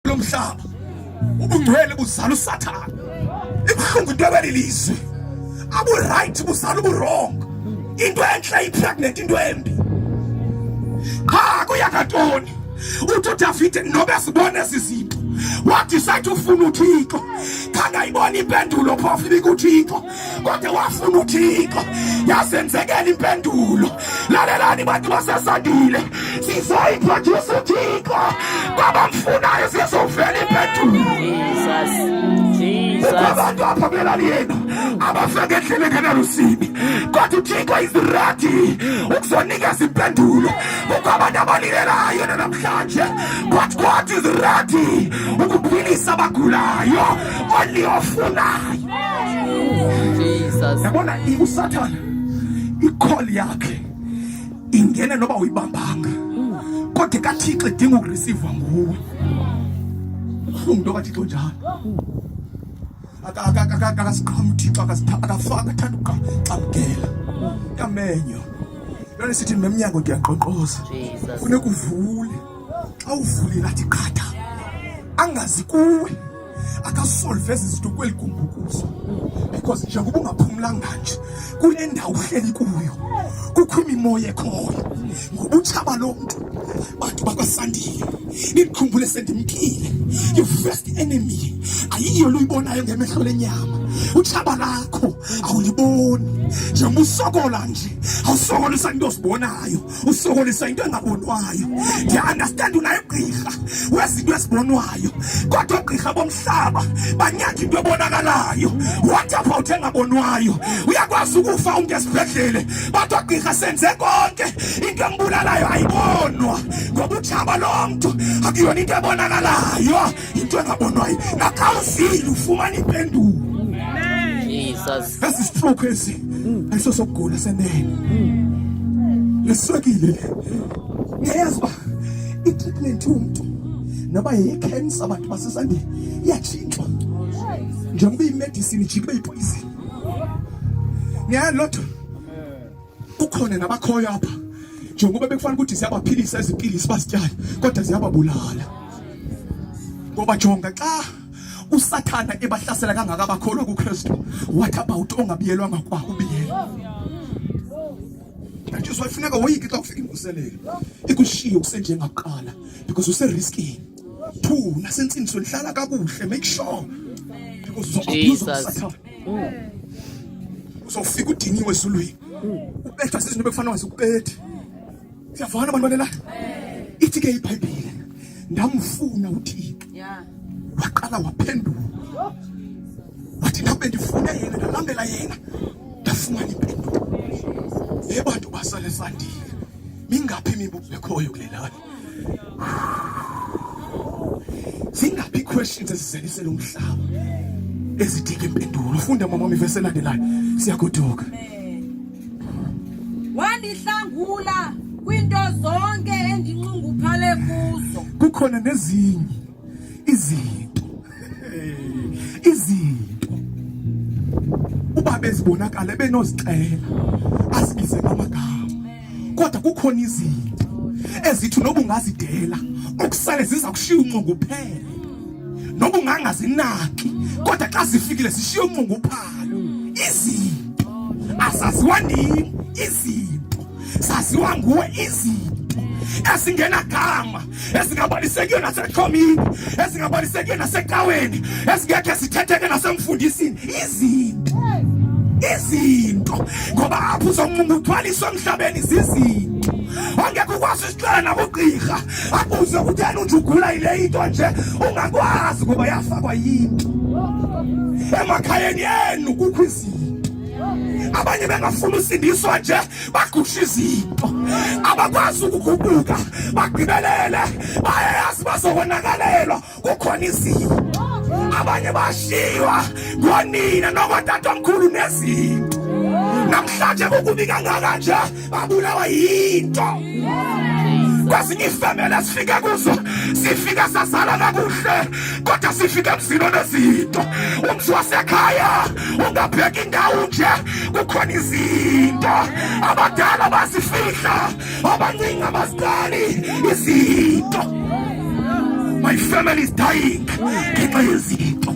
lo mhlaba ubungcwele buzala usathana ibuhlungu into ebeli lizwe aburayithi buzala uburongo into entle ipregnant into embi qha kuyakantoni uthi udavide nobe sibone ezi zinto wadisayithi ufuna uthixo khangayibona impendulo phofu ibikuthixo kodwa wafuna uthixo yazenzekela impendulo lalelani bantu basesandile sizoyiphrodyusa uthixo kwabamfunayo sizovela impendulo abantu apha kwelali yenu abafake endleleni enalusibi kodwa uthixo izirati ukuzonikeza impendulo kukho abantu abalilelayo nanamhlanje kodwa kodwa izirati ukuphilisa abagulayo oniofunayo Jesus. Yabona uSathana ikholi yakhe ingene noba uyibambanga kodwa kaThixo idinga ukurisivwa nguwe. Umntu kaThixo njalo. Akasiqhamu uThixo akafaka athanda ukuqamkela. Yamenyo. Lona sithi nemnyango ndiyaqoqoza. Funeka uvule. Xa uvulile athi qhatha. Angazi kuwe. akasolve ezi zinto kweli gumbukuzo because njengoba ungaphumlanga nje kule ndawo uhleli kuyo kukho imimoya ekhoyo ngobutshaba lo mntu bantu bakwasandile nikhumbule sendimkile your first enemy ayiyo luyibonayo ngemehlo lenyama utshaba lakho awuliboni njengoba usokola nje awusokola usanto osibonayo usokolisa into engabonwayo. Ndiyaundastand unayigqirha wezinto ezibonwayo, kodwa oogqirha bomhlaba banyanga into ebonakalayo. What about engabonwayo? Uyakwazi ukufa umntu esibhedlele, but oogqirha senze konke, into embulalayo ayibonwa ngoba utshaba lo mntu akuyona into ebonakalayo, into engabonwayo. Naxa uzile ufumana impendulo. Jesus. Esi stroke esi ayisosokugula senene. Leswekile le. Ngiyayazi uba i-treatment yomntu noba yeyi-cancer abantu basesandile iyatshintshwa njengoba iyimedisini ijike ibe yipoyizini. Ngiyayazi loo nto. Kukhona nabakhoyo apha njengoba bekufanele ukuthi ziyabaphilisa ezipilisi bazityale kodwa ziyababulala ngoba jonga xa usathana ebahlasela kangaka bakholwa kukristu what about ongabiyelwanga kwa ubiyelwa kanjizwa ifuneka woyike xa kufika imvuselelo ikushiye kusenjengaqala because useriskini two nasentsindiso ndihlala kakuhle make sure because uzoabuse usathana uzofika udiniwe ezulwini ubethwa zizinto bekufana wazi ukubethe siyavana abantu balela ithi ke ibhayibhile ndamfuna uthixo waqala waphendula wathi nabe ndifune yena ndalandela yena ndafumana impendulo yebantu basale sandile mingaphi imibuzo ekhoyo kulelani zingaphi iiquestions ezizelisela umhlaba ezidinga impendulo funda mama wam ivesi elandelayo siyagoduka wandihlangula kwinto zonke endinxunguphale kuzo kukhona nezinye izinto izinto uba bezibonakala benozixela asibize ngamagama kodwa kukhona izinto ezithi noba ungazidela okusale ziza kushiya unxunguphele noba ungangazinaki kodwa xa zifikile zishiya unxunguphalo izinto azaziwa nini izinto zaziwa nguwe izinto ezingenagama ezingabalisekiyo naseqhomini ezingabalisekiyo nasecaweni ezingekhe zithetheke nasemfundisini izinto izinto ngoba apho uzomungu uthwaliswa emhlabeni zizinto ongekho ukwazi isixela nakugqirha akuze kutheni unje ugula yile into nje ungakwazi ngoba yafakwa yinto emakhayeni enu kukho izinto abanye bengafuni usindiswa nje bagusha izinto abakwazi ukugubuka bagqibelele bayayazi bazokonakalelwa kukhona izinto abanye bashiywa ngonina nokotatomkhulu nezinto namhlanje kukubi kangaka nje babulawa yinto kwezinye ifemele sifike kuzo sifike sazala kakuhle kodwa sifike emzini onezinto umzi wasekhaya ungabheki indawo nje kukhona izinto abadala bazifihla abancinci abazidali izinto my family is dying ngenxa yezinto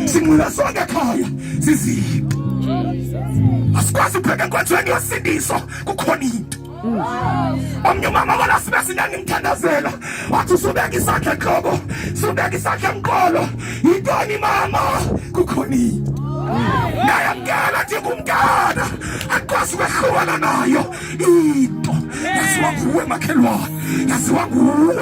sinqinasonge ekhaya zizibi asikwazi upheka enkonzweni yosindiso kukhona into omnye umama walasime singangimthandazela wathi usubeka isandla entloko subeka isandla emqolo yintoni mama kukhona into nayamkela ndingumntana akwazi ukwehlukana nayo into yaziwa nguwe makhelwane yaziwa nguwe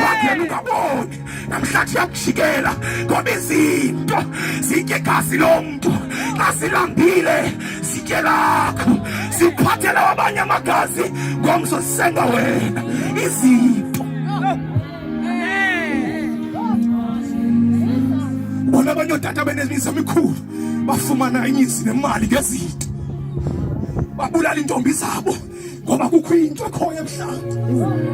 wangena ungaboni namhlanje yakujikela ngoba izinto zitye igazi lomntu xa silambile sitye lakho siphathela abanye amagazi ngomso sisenga wena izinto bona abanye ootata benemizi emikhulu bafumana imizi nemali ngezinto babulala iintombi zabo ngoba kukho into ekhoyo ebuhlanti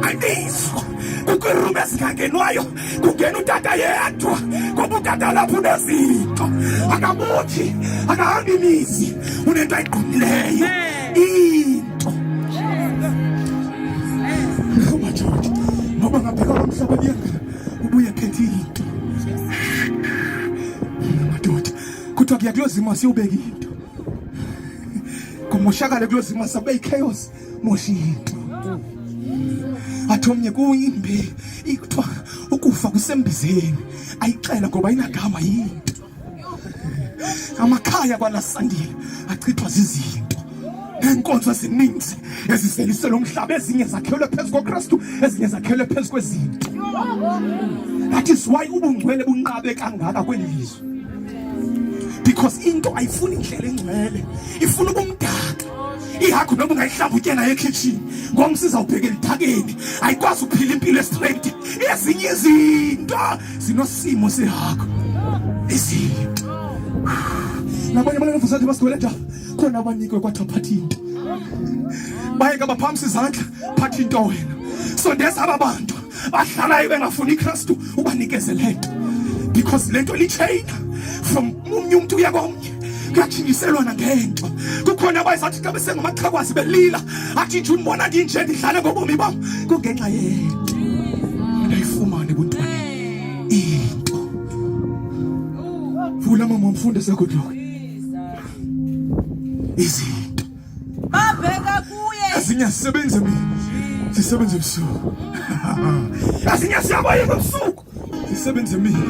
andizo kukho irumu ezingangenwayo kungena utata yedwa ngoba utata lapho unezinto akamuthi akahambi imizi unento ayigqumileyo into umajoji ngoba ngabheka lo mhlaba buyanga ubuye phethe into madoda kuthiwa kuyakulozima siwubeka into kumoshakale kuloo zimo sabe ichaos mosha into athi omnye kuyimbi ikuthiwa ukufa kusembizeni ayixela ngoba inagama yinto amakhaya kwalasandile achithwa zizinto neenkonzo ezininzi eziseliselwe umhlaba ezinye zakhelwe phezu kokristu ezinye zakhelwe phezu kwezinto that is why ubungcwele bunqabe kangaka kweli lizwe because into ayifuni indlela engcwele ifuna ubumdaka ihagu noma ungayihlambutye nayo ekhitshini ngomsiza ubheke lidakeni ayikwazi ukuphila impilo estraight ezinye izinto zinosimo sehagu izinto nabanye abanevuza athi basigweleta khona abanikwe kwathiwa phatha into bayeka baphamisa izandla phatha into wena sondeza aba bantu bahlalayo bengafuni iKristu ubanikeze le nto because le nto litsheyina from omnye umntu uya komnye kuyathingiselwana ngento kukhona abayizathi xa besengamaxhakwazi belila athi nje undibona ndinje ndidlale ngobomi bam kungenxa yento ndayifumane buntwana into vula mama mfundise good luck izinto babheka kuye asinyasebenze mina sisebenze ebusuku asinyasiyabayeka ebusuku sisebenze mina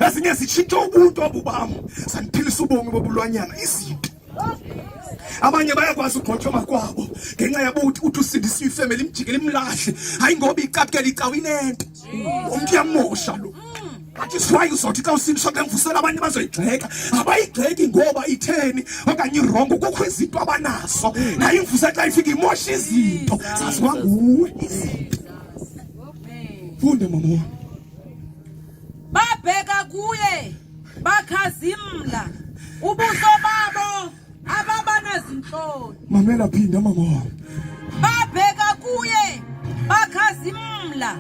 ezinye zitshintsha ubuntu obu bam sandiphilisa ubomi bobulwanyana izinto abanye bayakwazi ugqotyoma kwabo ngenxa yabuthi uthi usindisiwe ifemeli imjikela imlahle hayi ngoba icapukela icawa inento umntu uyamosha lo but is why uzothi xa usiliswa xa ngivusela abantu bazoyigxeka abayigxeki ngoba itheni okanye irongo kukho izinto abanazo naye imvusela xa ifika imosha izinto zaziwa nguwe izinto funde mama wam babheka kuye bakhazimla ubuso babo ababanazintloni mamela phinda mama wabo babheka kuye bakhazimla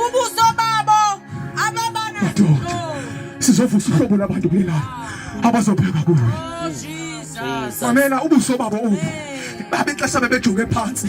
ubuso babo ababanazintloni sizovusa uhlobo labantu kule ndawo abazobheka kuwe oh, mamela ubuso babo obu babexesha bebejonge phansi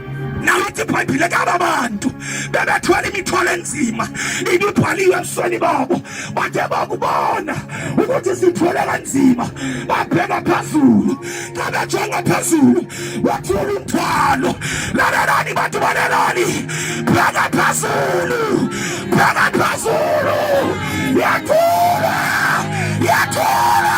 nalathi ibhayibhile kaba bantu bebethwala imithwalo enzima ibibhaliwe ebusweni babo bathe bakubona ukuthi sithwele kanzima babheka phezulu xa bejonga phezulu wathula umthwalo lalelani bantu balelani bheka phezulu bheka phezulu yathula yathula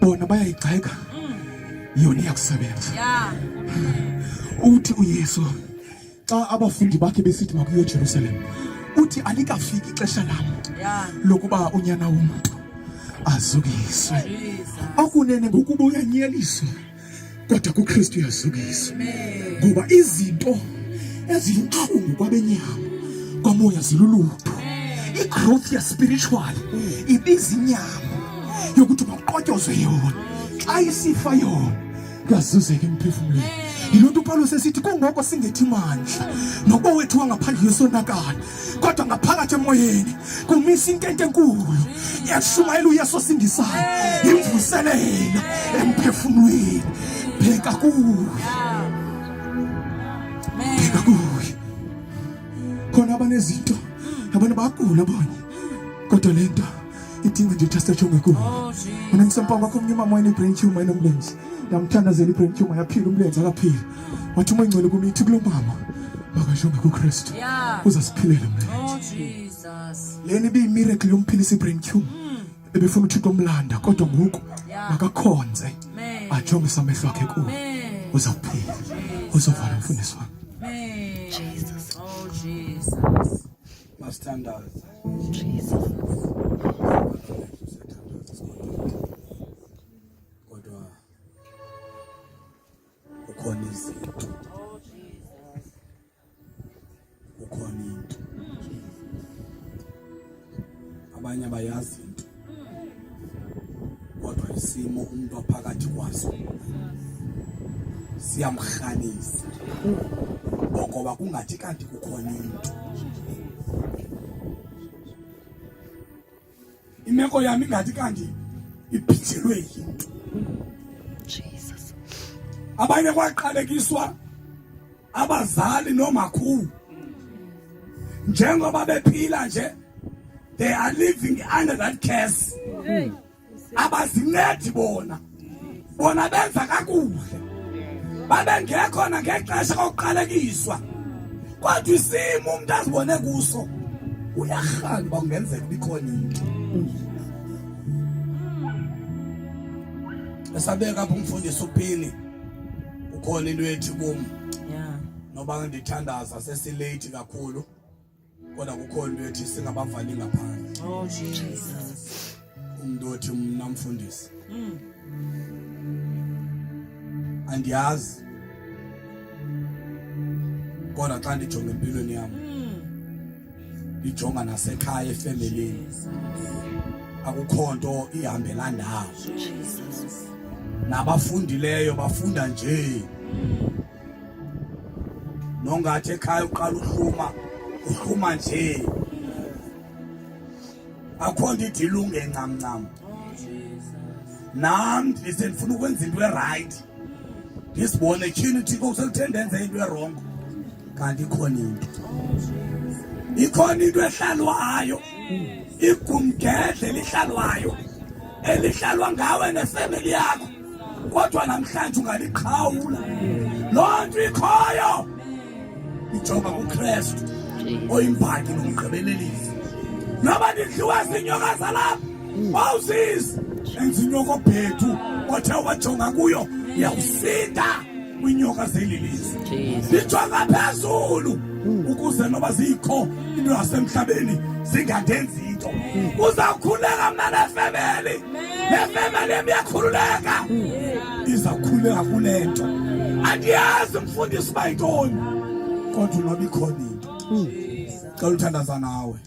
bona bayayigxeka yona iyakusebenza uthi uyesu xa abafundi bakhe besithi makuyo ejerusalem uthi alikafiki ixesha lam lokuba unyana womntu azukiswe okunene ngokuba uyanyeliswa kodwa kuKristu uyazukisa ngoba izinto eziyintlungu kwabenyama kwamoya zilulutho igrowth yaspiritual ibiza inyama yokuthi makuqotyozwe yona xa isifa yona kuyazuzeka emphefumlweni yiloo nto upawulos esithi kungoko singethi mandla nokowethu wangaphandle yosonakala kodwa ngaphakathi emoyeni kumisa intente enkulu yashumayela uyesu osindisayo yimvuselela emphefumlweni bheka kuye bheka kuye khona abanezinto abanye bagula abanye kodwa le nto itinga jitasta chonga ku una msampanga kumnyuma mwa ni brain chuma ino mlenzi na mtanda zeli brain chuma ya phila umlenzi akaphila wathi uma ingcwele kumithi kulo mama makashonga ku Kristu uzasiphilela mlenzi leni bi miracle yomphilisa brain chuma hmm. ebefuna uthixo omlanda kodwa ngoku makakhonze ajonge samehlo akhe ku uzaphila uzovala mfundisi wami Jesus oh Jesus My standards. Jesus. Kodwa ukhona izinto. Ukhona into. Abanye abayazi kodwa isimo umntu aphakathi kwaso siyamrhanisa ngoba kungathi kanti kukhona into imeko yami ingathi kanti iphinjelwe yinto abanye kwaqalekiswa abazali noomakhulu njengoba bephila nje they are living under that curse abazincedi bona bona benza kakuhle babengekhona ngexesha kokuqalekiswa kodwa isimo umuntu azibone kuso uyarhani uba kungenzeka ubikhona into esabeka apho umfundisi uphini kukhona into ethi kum noba ndithandaza sesileyithi kakhulu kodwa kukhona into ethi singabavali ngaphandle oh, umntu othi mna mfundisi mm. andiyazi kodwa xa ndijonge empilweni yam mm. ijonga nasekhaya efemelini akukho nto ihambela ndawo nabafundileyo bafunda nje nongathi ekhaya uqala uhluma uhluma nje akho nto idilunge ncamncam nam ndise ndifuna ukwenza into erayithi ndisibone tyhini thixo kuseluthe ndenze into erongo kanti ikhona into ikhona into ehlalwayo igumgedle elihlalwayo elihlalwa ngawe nefemeli yakho kodwa namhlanje ungaliqhawula loo nto ikhoyo ijonga kukristu oyimbhaki nomgqibelelisi noba ndidliwa zinyoka zalapha wawusizi enza inyoka obhethu othe wajonga kuyo yawusinda kwinyoka zelilizwe ndijonga phezulu ukuze noba zikho into yasemhlabeni zingandenzi into uzawukhuleka mna nefemeli nefemeli yam iyakhululeka izawukhuleka kule nto andiyazi mfundisi uba yintoni kodwa unoba ikhona into xa uluthandaza nawe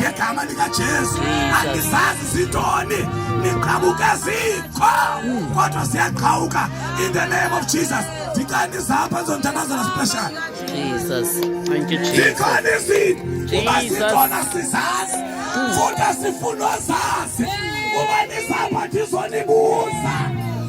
ngegama likaJesu andisazi zintoni niqhabuke zikho kodwa ziyaqhawuka in the name of Jesus ndicela ndizapha zontanazana special Jesus thank you Jesus ndikhona izinto uba sikhona sizazi futhi asifunwa zazi uba nizapha ndizonibuza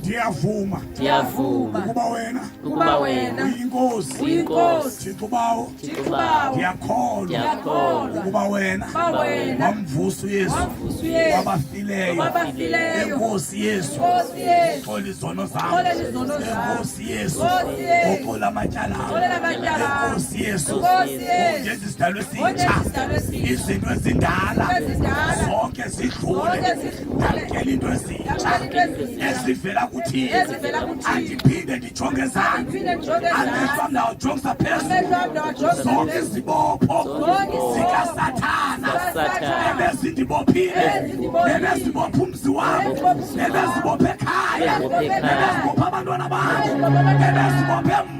ndiyavuma ndiyavuma ukuba wena ukuba wena uyinkosi uyinkosi thixo bawo thixo bawo ndiyakholwa ndiyakholwa ukuba wena ukuba wena wamvusa uyesu wamvusa uyesu wabafileyo wabafileyo inkosi yesu inkosi yesu xola izono zam xola izono zam inkosi yesu inkosi yesu oxola amatyala oxola amatyala inkosi yesu inkosi yesu ngenza isidalwe sintsha izinto ezindala zonke zidlule ndamkela into ezivela kuthile andiphinde ndijonge zani amehlo am ndawajongisa phezulu zonke izibopho zikasathana ebezindibophile ebezibopha umzi wam ebezibopha ekhaya ebezibopha abantwana bam ebezibopha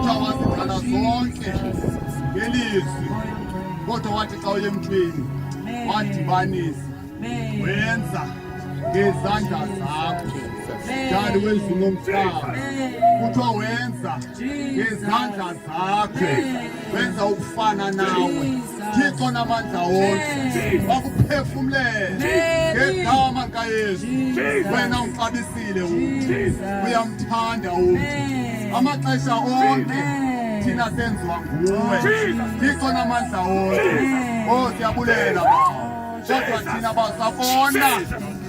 Utawazikana zonke ngelizwi kodwa wathi xa uye emntwini wadibanisa wenza ngezandla zakho dali wezulu lomhlaba kuthiwa wenza ngezandla zakho wenza ukufana nawe Thixo namandla wonke wakuphefumlela ngegama likaYesu wena uxabisile umntu uyamthanda umntu amaxesha onke thina senziwa nguwe Thixo namandla wonke o oh, siyabulela kodwa thina basabona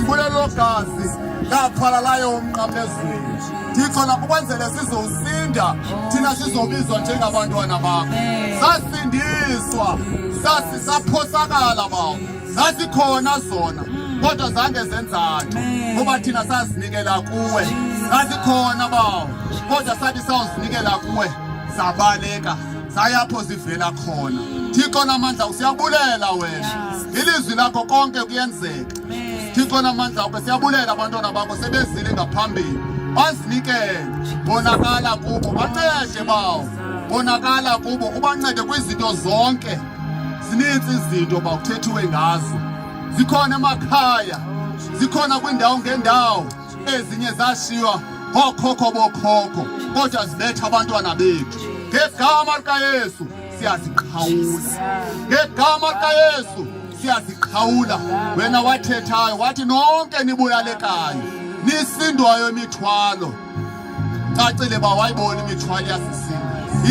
Ibulelogazi lathwala layo umnqamlezweni ndikhona ukwenzele sizosinda thina sizobizwa njengabantwana bakho sasindiswa sasi saphosakala bawo zasikhona zona kodwa zange zenzani ngoba thina sazinikela kuwe zasikhona bawo kodwa sathi sawuzinikela kuwe zabaleka sayapho zivela khona thixo namandla usiyabulela wena ilizwi lakho konke kuyenzeka thixo namandla akho siyabulela abantwana bakho sebezile ngaphambili bazinikele bonakala kubo bancede bawo bonakala kubo ubancede kwizinto zonke zininzi izinto bawuthethiwe ngazo zikhona emakhaya zikhona kwiindawo ngendawo Ezinye zashiywa bookhokho bookhokho kodwa zibetha abantwana bethu ngegama likayesu siyaziqhawula ngegama likayesu siyaziqhawula wena wathethayo wathi nonke nibulalekayo nisindwayo imithwalo cacile uba wayibona imithwalo yasisini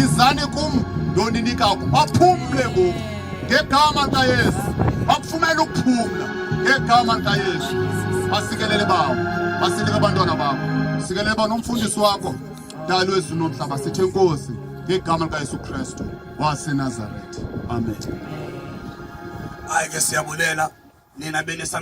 izani kum ndoninika ku baphumle ngoku ngegama likayesu bakufumela ukuphumla ngegama likayesu basikelele bawo basilike abantwana bakho sikelele ba nomfundisi wakho dalo ezulu nomhlaba sithe nkosi ngegama likayesu kristu wasenazaretha amen hayi ke siyabulela nina benesam